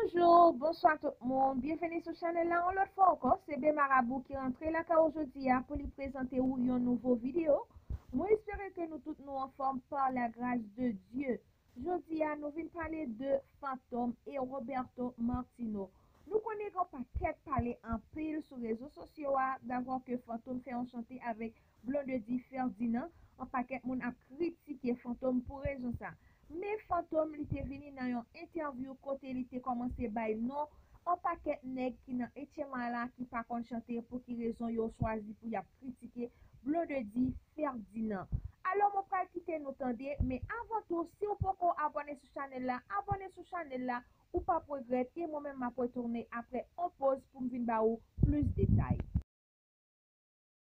Bonjour, bonswa tout moun, byenveni sou chanèl la yon lòt fwa ankò, se Be Marabou ki rantre lakay ou jodi a pou li prezante ou yon nouvo video. Mwen espere ke nou tout nou anfòm par la grâce de Dieu. Jodi a nou vin pale de Fantom e Roberto Martino. Nou konnen gen yon pakèt pale anpil sou rezo sosyo a, davò ke Fantom fè yon chante avèk Blondedy Ferdinand, an pakèt moun ap kritike Fantom pou rezon sa. Men Fantom li te vini nan yon entèvyou kote li te kòmanse bay non an pakèt nèg ki nan HMI la ki pa konn chante pou ki rezon yo chwazi pou yap kritike Blondedy Ferdinand. Alò mwen pral kite nou tande men avan tou siw poko abòne sou chanèl la abòne sou chanèl la ou pap regrèt e mwen menm map retounen aprè on poz poum vin ba ou plis detay.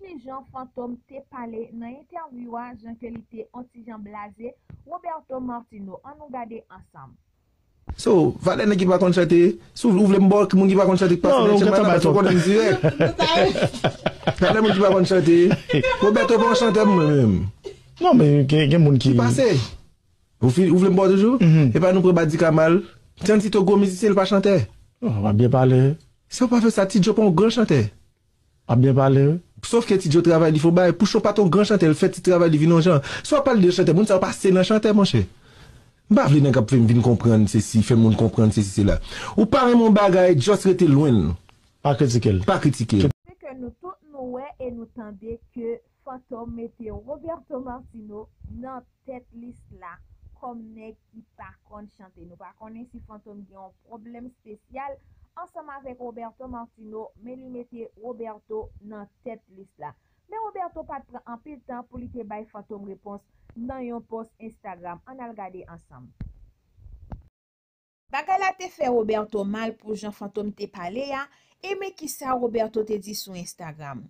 Ki jan Fantom te pale nan entèvyou a jan ke li te on ti jan blaze Roberto Martino an nou gade ansanm. So, valè nèg ki pa konn chante, si ou vle ou vle m ba w moun ki pa konn chante k pase nan tchenman nan paske ou konnen m dirèk. Valè moun ki pa konn chante, Roberto pa yon chantè mwen menm. Non men gen moun ki. Ki pase. Ou fin ou vle m ba w toujou? Epa nou pran Badika mal. Tiancito gwo mizisyen li pa chantè. Wap byen pale. Sa ou pa fè sa, T-Joe pa yon gran chantè. Wap byen pale wi. Sof ke Tidjo travay li fo bay, Pouchon pat on gran chantè l fè ti travay li vin on jan. Si wap pale de chantè moun sa yo pa se nan chantè monchè. M pa vle nèg ap fè m vin konprann sesi, fè moun konprann sesi sela. Ou pa renmen on bagay just rete lwen l. Pa kritike l. Pa kritike l. Se ke nou tout nou wè e nou tande ke Fantom mete Roberto Martino nan tèt lis la kòm nèg ki pa konn chante. Nou pa konnen si Fantom gen yon pwoblèm espesyal ansanm avèk Roberto Martino men li mete Roberto nan tèt lis la. Men Roberto pat pran anpil tan pou li te bay Fantom repons nan yon pòs Instagram. Ann al gade ansanm. Bagay la te fè Roberto mal pou jan Fantom te pale a e men kisa Roberto te di sou Instagram,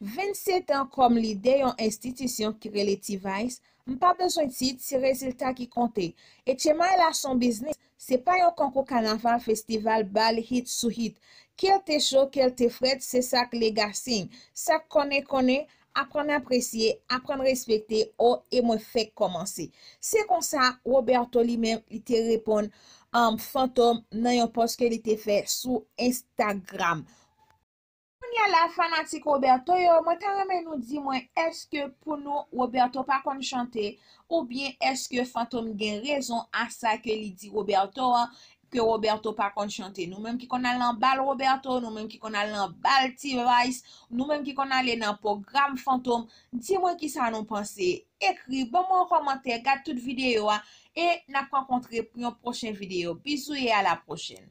27 an kòm lidè yon enstitisyon ki rele T-Vice, m pa bezwen tit, se rezilta ki konte. Etcemay la s on biznis, se pa yon konkou kanaval, festival, bal hit sou hit. Ke l te cho, ke l te frèt, se sa k Legasing. Sa k konnen konnen, Aprann apresye, aprann respekte, o e mwen fèk kòmanse. Se konsa, Roberto li menm, li te reponn, um, Fantom nan yon pòs ke li te fè sou Instagram. Kounya la fanatik Roberto yo, mwen ta renmen nou di mwen èske pou nou Roberto pa konn chante, oubyen èske Fantom gen rezon a sa ke li di Roberto an, ke Roberto pa konn chante nou menm ki konn al nan bal Roberto nou menm ki konn al nan bal T-vice nou menm ki konn ale nan pwogram fantom di mwen kisa nou panse ekri ban mwen yon kòmantè gad tout videyo a e nap rankontre pou yon pwochen videyo bizou e a la pwochèn.